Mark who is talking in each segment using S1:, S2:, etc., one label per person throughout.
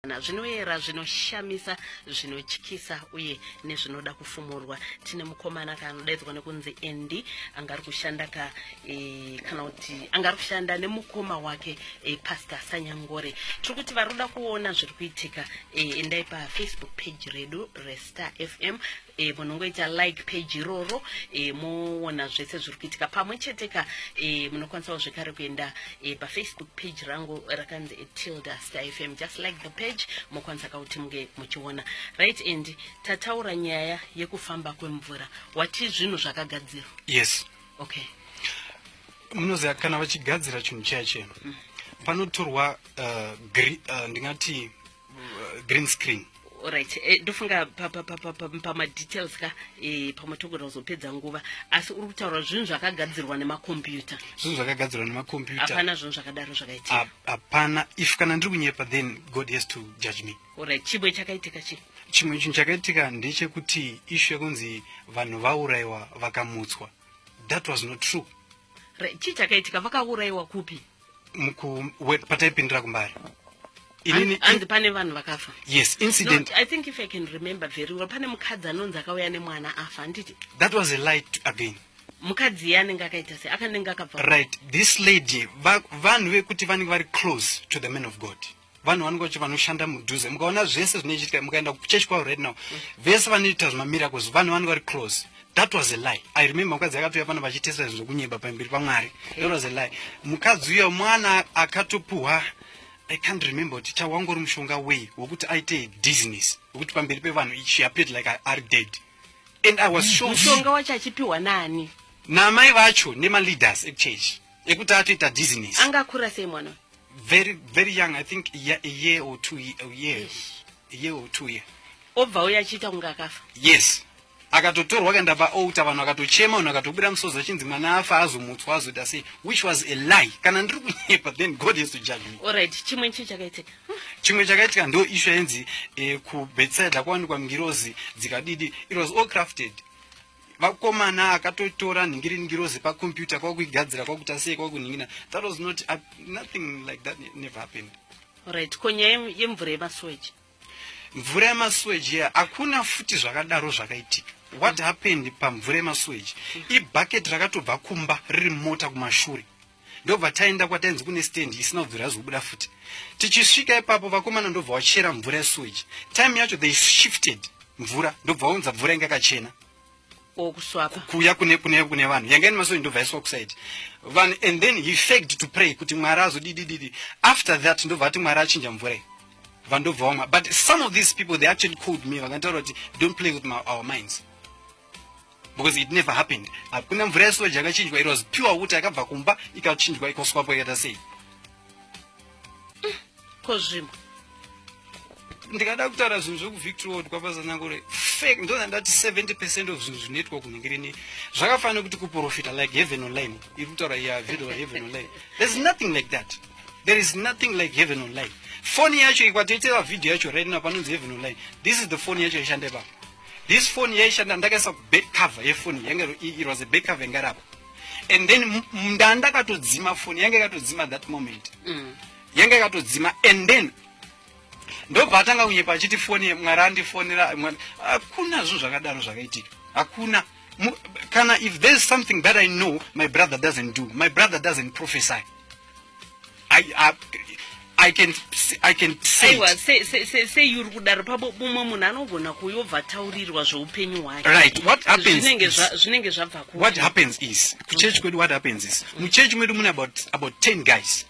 S1: zvinoyera zvinoshamisa zvinotyisa uye nezvinoda kufumurwa tine mukomana kanodaidzwa nekunzi endi anga ari kushanda ka e, kana kuti anga ari kushanda nemukoma wake e, pastor sanyangore tiri kuti vari kuda kuona zviri kuitika e, endai pafacebook page redu restar fm e, munongoita like page iroro e, moona zvese zviri kuitika pamwe chete ka e, munokwanisawo zvekare kuenda e, pafacebook page rangu rakanzi tilda star fm just like the page mokwanisa kauti munge muchiona right and tataura nyaya yekufamba kwemvura wati zvinhu zvakagadzirwa yes okay
S2: munoziva kana vachigadzira chinhu chaya chenu mm. panotorwa uh, uh, ndingati uh, green screen right eh,
S1: ndofunga pamadetails ka eh, pamwe togona kuzopedza nguva asi uri kutaura zvinhu zvakagadzirwa nemakombiyuta zvinhu zvakagadzirwa
S2: nemakombiyuta hapana zvinhu zvakadaro
S1: zvakaitika hapana if
S2: kana ndiri kunyepa then god has to judge me orit chimwe chakaitika
S1: chi chimwe chinhu chakaitika
S2: ndechekuti ishu yekunzi vanhu vaurayiwa vakamutswa that was not true chii
S1: chakaitika vakaurayiwa kupi
S2: pataipindira kumbari
S1: anzi pane vanhu vakafa yes incident no,
S2: i think if i can
S1: remember very well pane mukadzi anonzi akauya nemwana afa handiti that was a light
S2: again mukadzi iye anenge
S1: akaita se akanenge akabva right this lady
S2: vanhu vekuti vanenge vari close to the man of god vanhu vanenge vacho vanoshanda mudhuze mukaona zvese zvinoitika mukaenda kuchechi kwavo right now mm. vese vanoita zvemamiracles vanhu vanenge vari close that was a lie i remember mukadzi akatouya pano vachitesa zvinhu zvokunyeba pamberi pamwari that was a lie mukadzi uyo mwana akatopuhwa i can't remember kuti chawangori mushonga wei wokuti aite disness wokuti pamberi pevanhu she appeared like i are dead and i was sure mushonga wacho achipiwa
S1: nani namai vacho
S2: nemaleaders echurch ekuti atoita disness angakura sei mwana
S1: very very
S2: young i think a year or two years a year or two year obva uya achiita
S1: kunge akafa yes
S2: akatotorwa akaenda paouta vanhu akatochema vanhu akatobuda musozi achinzi mwana afa azomutswa azoita sei which was a lie kana ndiri kunyepa then god has to judge me alright chimwe chii
S1: chakaitika chimwe chakaitika
S2: ndo ishu yainzi eh, kubetside kwawanikwa ngirozi dzikadidi it was all crafted vakomana akatotora nhingiri ngirozi pacomputer kwakuigadzira kwakuita sei kwakunhingina that was not uh, nothing like that never happened right ko nyaya
S1: yemvura yemasweji mvura
S2: yemasweji ya hakuna futi zvakadaro zvakaitika what mm. happened pamvura yemasweji mm. ibucket rakatobva kumba riri mota kumashure ndobva taenda kwatainzi kune stendi isina kubvira azobuda futi tichisvika ipapo vakomana ndobva wachera mvura yesuweji time yacho they shifted mvura ndobva waunza mvura inge kachena
S1: kuya kune kune
S2: kune vanhu yanga ine masoi ndobva yaiswa kusaidi vanhu and then he faked to pray kuti mwari azodidididi after that ndobva ati mwari achinja mvura iyi vandobva wamwa but some of these people they actually called me vakantaura kuti don't play with my, our minds because it never happened hakuna mvura yesoja yakachinjwa it was pure water yakabva kumba ikachinjwa ikoswapo ikaita sei ko zvimwe ndikada kutaura zvinhu zvekuvictorod kwapazanangore fake ndona ndati 70 percent of zvinhu zvinoitwa kunenge rini zvakafanira kuti kuprofita like heaven online iri kutaura ya video heaven online there's nothing like that there is nothing like heaven online foni yacho ikwatoitira video yacho right now panonzi heaven online this is the foni yacho ishande papa this phone yaishanda ndakaisa kuback cover yefoni yange it was a back cover yanga rapo and then nda ndakatodzima phone yange yakatodzima that moment mm. yange yakatodzima and then ndobva atanga kunyepa achiti foni mwari andifonera hakuna zvinhu zvakadaro zvakaitika hakuna kana if there is something that i know my brother doesn't do my brother doesn't prophesy I, I, I can I can say aiwa se se se se
S1: yuri kudaro pabo mumwe munhu anogona kuyobva taurirwa zveupenyu hwake right what happens zvinenge
S2: zva zvinenge zvabva
S1: ku what happens is ku
S2: church kwedu what happens is mu church mwedu mune about about 10 guys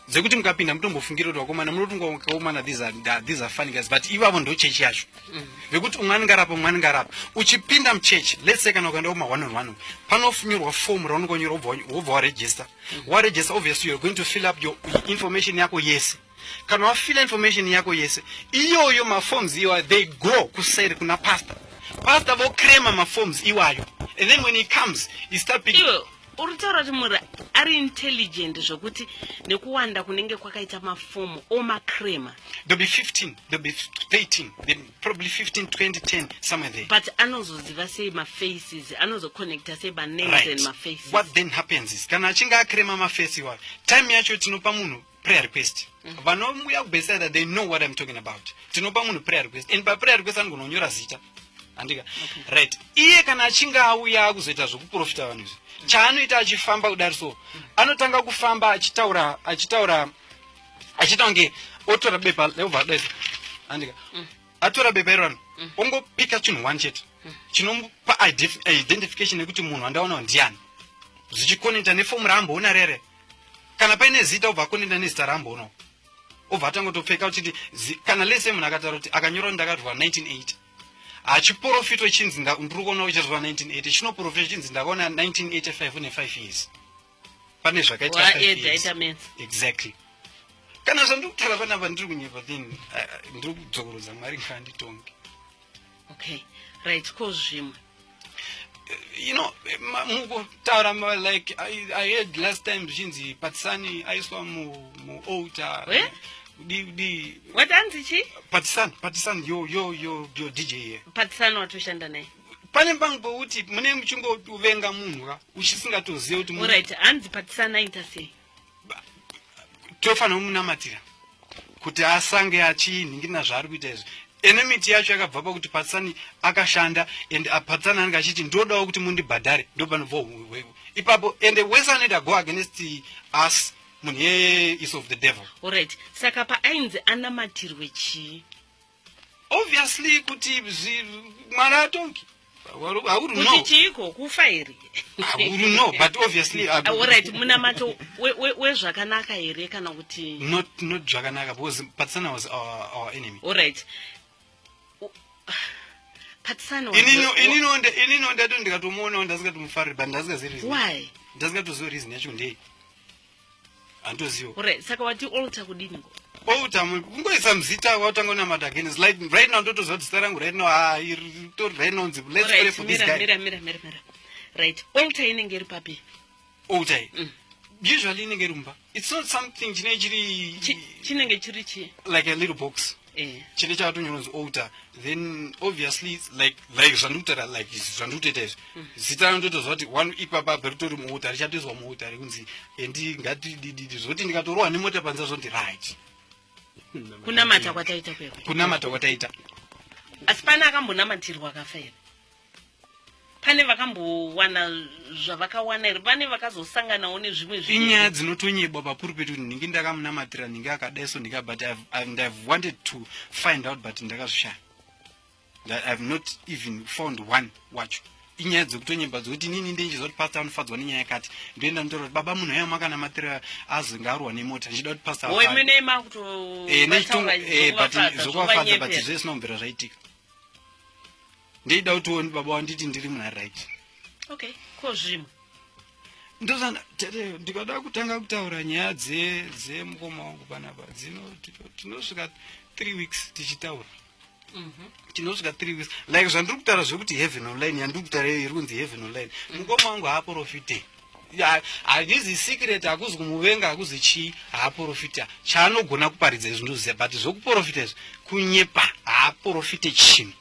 S2: dzekuti mukapinda mutombofungira kuti wakomana munotunga wakakomana these are these are funny guys but ivavo ndo church yacho mm. vekuti umwe anenge arapa umwe anenge arapa uchipinda mu church let's say kana ukaenda kuma one on one panofunyorwa form raunongonyora wobva waregister waregister obviously you're going to fill up your information yako yese kana wafila information yako yese iyoyo maforms iwayo they go kuseri kuna pastor pastor vocrema maforms iwayo and then when he comes he start picking Iwe, uri kutaura kuti muri
S1: ari intelligent zvekuti nekuwanda kunenge kwakaita mafomu omacrema there'll
S2: be 15 there'll be 13 Then probably 15 20 10 somewhere there but anozoziva
S1: sei mafaces anozoconnecta sei manames right. and mafaces
S2: what then
S1: happens
S2: is kana achinge akrema
S1: maface
S2: iwayo time yacho
S1: tinopa
S2: munhu prayer request mm. vanomuya kubeside that they know what i'm talking about tinopa munhu prayer request and paprayer request anogononyora zita andika okay. right iye kana achinge auya akuzoita zvekuprofita vanhu izvi mm. chaanoita achifamba kudari so mm. anotanga kufamba achitaura achitaura achiita kunge otora bepa leobva adaisa andika mm. atora bepa irorano mm. ongopika chinhu one chete mm. chinomupa identification yekuti munhu wandaonawo ndiani zvichikonekta nefomu raamboona rere kana paine zita obva akonekta nezita raamboonawo obva atanga kutopfeka uchiti kana lese munhu akataura kuti akanyora kuti ndakatorwa 1980 hachiporofitwe chinzi ndiri kuona uchitaurwa 1980 chinoporofitwa chinzi ndakaona 1985 une 5 years pane zvakaitaita exactly kana zvandiri kutaura panapa ndiri kunyepa then ndiri kudzokorodza mwari ngaanditonge okay
S1: right ko zvimwe you know
S2: mukutaura like I, i heard last time zvichinzi patisani aiswa mualtar mu eh? di
S1: di watanzi chi patisan patisan
S2: yo yo yo yo dj here patisan watoshanda
S1: naye pane pangouti
S2: mune muchingovenga munhu ka uchisingatozive kuti orit hanzi
S1: patisanaita sei tofanira
S2: kumunamatira kuti asange achinhingirina zvaari kuita izvi ene miti yacho yakabva pakuti patsani akashanda and patsani anenge achiti ndodawo kuti mundibhadhare ndopanobva hweku ipapo and wese anoita go against us munhu yeye is of the devil orit saka
S1: paainzi anamatirwe chii
S2: obviously kuti mwana atongi kuti
S1: chiiko kufa here no
S2: but obviously ah, orit munamato
S1: wezvakanaka here kana kuti not zvakanaka
S2: because patsana was our enemy orit
S1: inino
S2: ndato ndikatomuonawo ndasingatomufariri but ndasingazii ndasingatoziva
S1: reason
S2: yacho ndei handoziva right saka wati
S1: alter kudini ngo alter
S2: kungoisa muzita watanga unamata again is like right now ndotoziva kuti zita rangu right now ah to right now nzi let's pray for this guy mira mira mira mira
S1: right alter inenge iri papi alter
S2: mm. usually inenge rumba it's not something chine chiri
S1: chinenge chiri chi like a little box
S2: eh. chete chakatonyononzi outer then obviously like like zvandikutaura like izvi zvandikutoita izvi mm. zita ranototoziva kuti one ipapa beritori muuta richatoiswa muuta rekunzi endi eh, ngatidididi zvokuti ndikatorohwa nemota panza zvondi right
S1: kunamata kwataita kunamata kwataita
S2: asi
S1: pane akambonamatirwa akafa here pane vakambowana zvavakawana here vane vakazosanganawo nezvimwe zvi inyaya dzinotonyebwa
S2: pakuru pedu kuti ndinge ndakamunamatira ndinge akadai so ndinge but and ihave wanted to find out but ndakazvishaya ihave not even found one wacho inyaya dzekutonyeba dzokuti inini ndinchizwa kuti pasta anofadzwa nenyaya yakati ndoenda ndotaura kuti baba munhu ayo makanamatira azenge arwa nemota ndichida kuti pasta eh, eh, but zvokuvafadza but zvese zvinombera zvaitika ndeida kuti uone baba wanditi ndiri muna right okay
S1: ko zvimwe ndozana
S2: tete ndikada kutanga kutaura nyaya dze dzemukoma wangu panapa dzino tinosvika three weeks tichitaura mhm. tinosvika three weeks like zvandiri kutaura zvekuti heaven online yandiri kutaura iyo iri kunzi heaven online mukoma wangu haaprofite handizi secret hakuzi kumuvenga hakuzi chii haaporofita chaanogona kuparidza izvi ndoziva but zvokuporofita izvi kunyepa haaporofite chinhu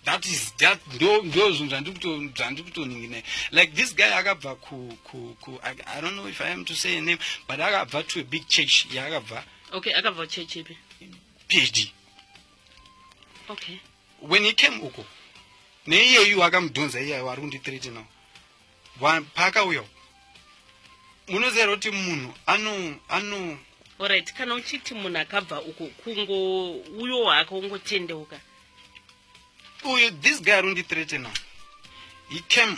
S2: that is that ndo ndo zvinhu zvandikuto zvandikutoninginai like this guy akabva ku ku ku I, i don't know if i am to say a name but akabva to a big church yaakabva okay akabva church
S1: ipi phd okay when he
S2: came uko neiyeyu akamudhonza iyayo ari kundithreatenawo paka uyo munozera kuti munhu ano ano orit kana
S1: uchiti munhu akabva uko kungo uyo wake ungotendeuka
S2: uyu this guy arundi threatena he came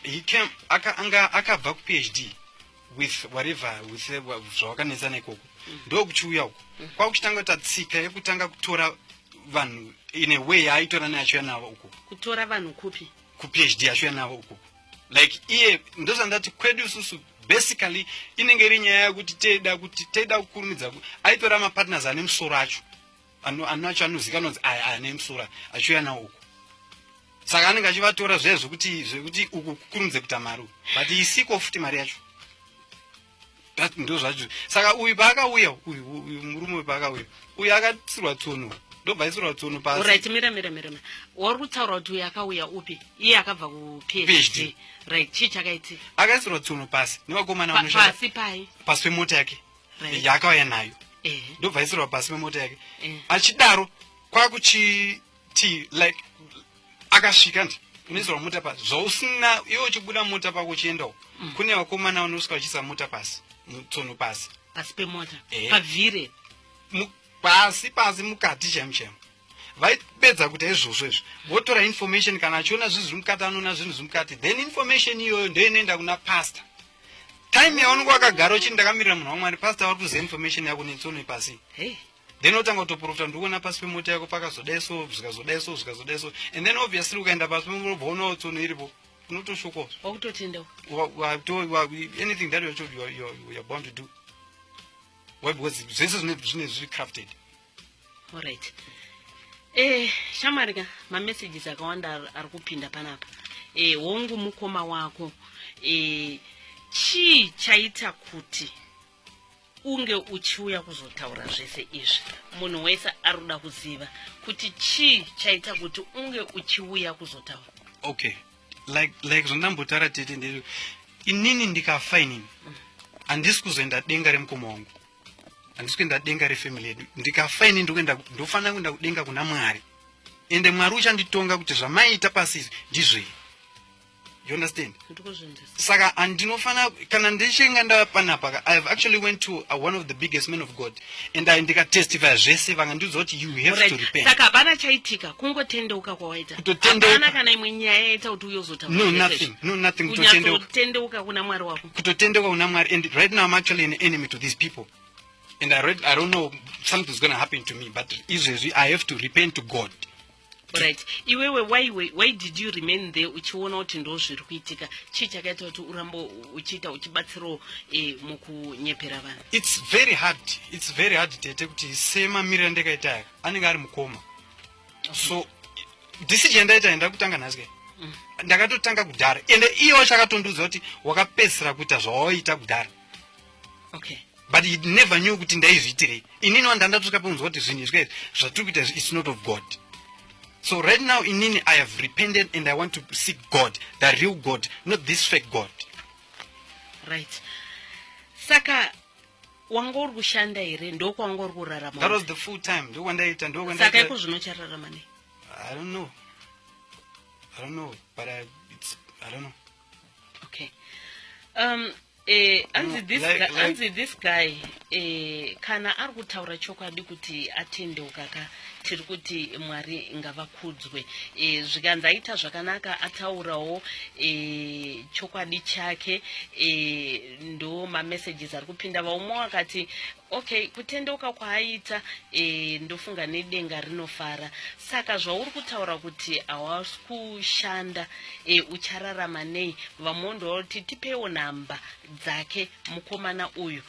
S2: he came aka anga akabva ku phd with whatever with zvawakanetsa nekoko mm. ndokuchiuya uko mm. kwakuchitanga ta tsika yekutanga kutora vanhu in a way yaaitora neachiuya navo uko kutora vanhu kupi
S1: kuphd yacho yanavo
S2: ukoko like iye ndozvandati kwedu isusu basically inenge iri nyaya yekuti teida kuti teida kukurumidza aitora mapartners ane musoro acho anoacho anozikanwa kuti aya ane musoro achiuya nawo uku saka anenge achivatora zviya zvekuti zvekuti uku kukurumidze kuita mari but isiko futi mari yacho that ndo zvacho saka uyu paakauya uyu uyu murume uyu paakauya uyu akatsirwa tsono ndobva aisirwa tsono pasirit mira mira mira mira
S1: wari kutaura kuti uyu akauya upi iye akabva kuphd right chii chakaiti
S2: akaisirwa
S1: tsono pasi
S2: nevakomana pasi pai
S1: pasi
S2: pemota
S1: yake yaakauya nayo
S2: ndobva aisirwa pasi pemota yake achidaro kwakuchi ti like akasvika ndi unenzi wamuta pasi zvausina iwe uchibuda mota pako uchienda uko mm. kune vakomana vanosvika vachiisa mota pasi mutsono pasi pasi pemota eh.
S1: pavhire
S2: pasi pasi mukati chaimo chaimo vaipedza kuti izvozvo izvi votora information kana achiona zvinhu zviri mukati anoona zvinhu zviri mukati then information iyoyo ndoinoenda kuna pastor time yaunenge wakagara uchiti ndakamirira munhu wamwari pastor vari kuziva information yako netsono ipasi hey. then otanga kutoprofita ndikuona pasi pemota yako pakazodai so zvikazodai so zvikazodai so and then obviously ukaenda pasi pemurobva unawo tsono iripo unotoshokoa wakutotenda anything that you're, you're, you're, you're bound to do why because zvese zvine zvine zviri crafted alright
S1: eh shamwari ka mamessages akawanda ari kupinda panapa eh hongu mukoma wako eh chii chaita kuti unge uchiuya kuzotaura zvese izvi munhu wese ari kuda kuziva kuti chii chaita kuti unge uchiuya kuzotaura okay
S2: like like zvandambotara tete ndei inini ndikafa inini handisi kuzoenda denga remukoma wangu handisi kuenda denga refamily yedu ndikafa ini ndokuenda ndofanira kuenda kudenga kuna mwari ende mwari uchanditonga kuti zvamaiita pasi izvi ndizvei you understand saka handinofanira kana ndichinga ndava panapaka i have actually went to uh, one of the biggest men of god and i ndikatestifya zvese vanga ndiudza kuti you have right. to repent saka hapana chaitika
S1: kungotendeuka kwawaita kutotendeuka kana imwe nyaya yaita kuti uyozotaura no nothing no nothing
S2: kutotendeuka kutendeuka kuna
S1: mwari wako kutotendeuka kuna mwari and
S2: right now i'm actually an enemy to these people and i read i don't know something's going to happen to me but izvezvi i have to repent to god right
S1: iwewe why, why, why did you remain there uchiona kuti ndo zviri kuitika chii chakaita kuti urambo uchiita uchibatsirawo eh, mukunyepera vanhu its very hard
S2: its very hard tete kuti semamiriro andikaita aya anenge ari mukoma okay. so decision yandaita yenda kutanga nhasi kai mm. ndakatotanga kudhara ende iye wacho akatondiudza kuti wakapedzisira kuita zvawaita kudhara okay
S1: but he
S2: never knew kuti ndaizviitirei inini wandandatoka peunzwa kuti zvinhu izvi kaizvi zvatiri kuita izvi it's not of god so right now inini i have repented and i want to seek god the real god not this fake god
S1: right saka wanga uri kushanda here ndokwanga uri kurarama that was the full time
S2: ndokwandaiita ndokwasaka iko zvino
S1: chararama nei i don't know i
S2: don't know but I, it's, i don't know
S1: okay um eh, anzi mm, this, like, like, this guy eh, kana ari kutaura chokwadi kuti atendeuka ka tiri kuti mwari ngavakudzwe eh, zvikanzi aita zvakanaka ataurawo eh, chokwadi chake eh, ndo mamessages ari kupinda vaumwe wakati Okay, kutendeuka kwaaita eh, ndofunga nedenga rinofara. Saka zvauri kutaura kuti hawasi kushanda eh, uchararama nei? Vamhondi vanoti tipeiwo nhamba dzake mukomana uyu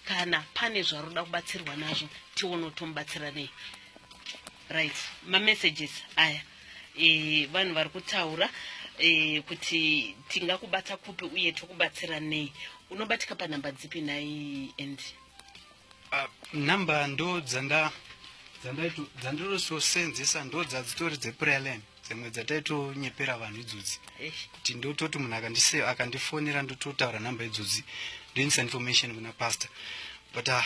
S1: kana pane zvaroda kubatsirwa nazvo tione kuti tomubatsira nei. Right, mamessages aya e, vanhu vari kutaura e, kuti tingakubata kupi uye tokubatsira nei unobatika panhamba dzipi nhai and uh, ah,
S2: number ndo dzanda dzandirososenzesa ndo dzadzitori dzeprayer line dzimwe dzataitonyepera vanhu idzodzi kuti ndototi munhu akandifonera ndototaura number idzodzi ndoinisa information kuna pastor but uh,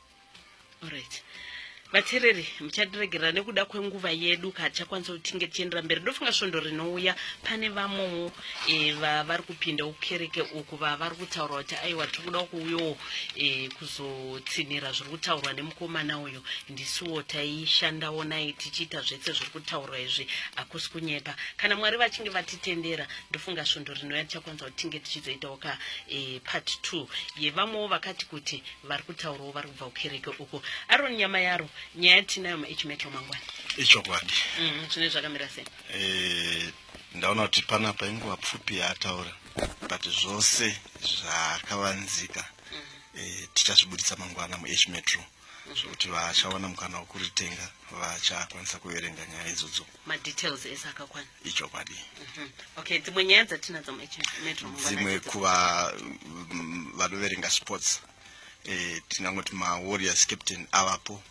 S1: Alright. vateereri muchatiregerera nekuda kwenguva yedu katichakwanisa kuti tinge tichiendera mberi ndofunga svondo rinouya pane vamwewo e, eh, vavari kupinda ukereke uku vavari kutaura kuti aiwa tiri kuda kuuyawo e, eh, kuzotsinhira zviri kutaurwa nemukomana uyu ndisuwo taishandawo naye tichiita zvese zviri kutaurwa izvi hakusi kunyepa kana mwari vachinge vatitendera ndofunga svondo rinouya tichakwanisa kuti tinge tichizoitawo ka e, part two yevamwewo vakati kuti vari kutaurawo vari kubva kukereke uko aron nyama yaro nyaya tinayo maage metro mangwana ichokwadi
S3: mm, zvine zvakamira
S1: sei eh,
S3: ndaona kuti panapa inguva pfupi yaataura but zvose zvakavanzika mm. eh, tichazvibuditsa mangwana muage metro mm. zvokuti vachawana mukana wekuritenga vachakwanisa kuverenga nyaya idzodzo madetails ese
S1: akakwana ichokwadi mhm.
S3: okay
S1: dzimwe nyaya dzatinadzo metro dzimwe kuva
S3: mm, vanoverenga sports eh, tinangoti mawarriors captain avapo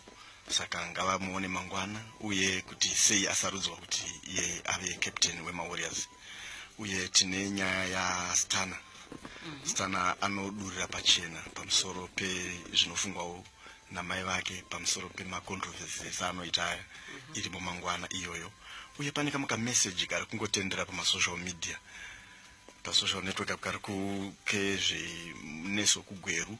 S3: saka ngavamuone mangwana uye kuti sei asarudzwa kuti iye ave captain wemawarriors uye tine nyaya yastana mm -hmm. stana anodurira pachena pamusoro pezvinofungwawo namai vake pamusoro pemacontroversies anoita aya mhm. iri mumangwana iyoyo uye pane kamwe kameseji kari kungotendera pamasocial media pasocial network apo kari kezveneso kugweru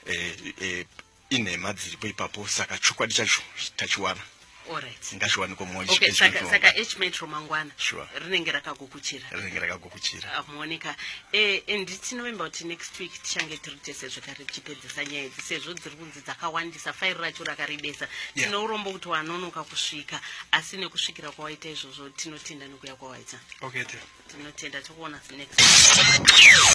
S3: eh, eh, inhema dziripo ipapo saka chokwadi chacho tachiwana
S1: ngashiwaniko mwoyo okay,
S3: saka, saka h
S1: metro mangwana sure. rinenge
S3: rakagukuchira
S1: rinenge rakagukuchira amuoneka ah, e, e, ndi tinovimba kuti next week tichange tiri tese zvekare tichipedzisa nyaya idzi sezvo dziri kunzi dzakawandisa fairi racho rakarebesa yeah. tino urombo kuti wanonoka kusvika asi nekusvikira kwawaita izvozvo tinotenda nekuya kwawaita okay,
S2: tinotenda
S1: tokuona next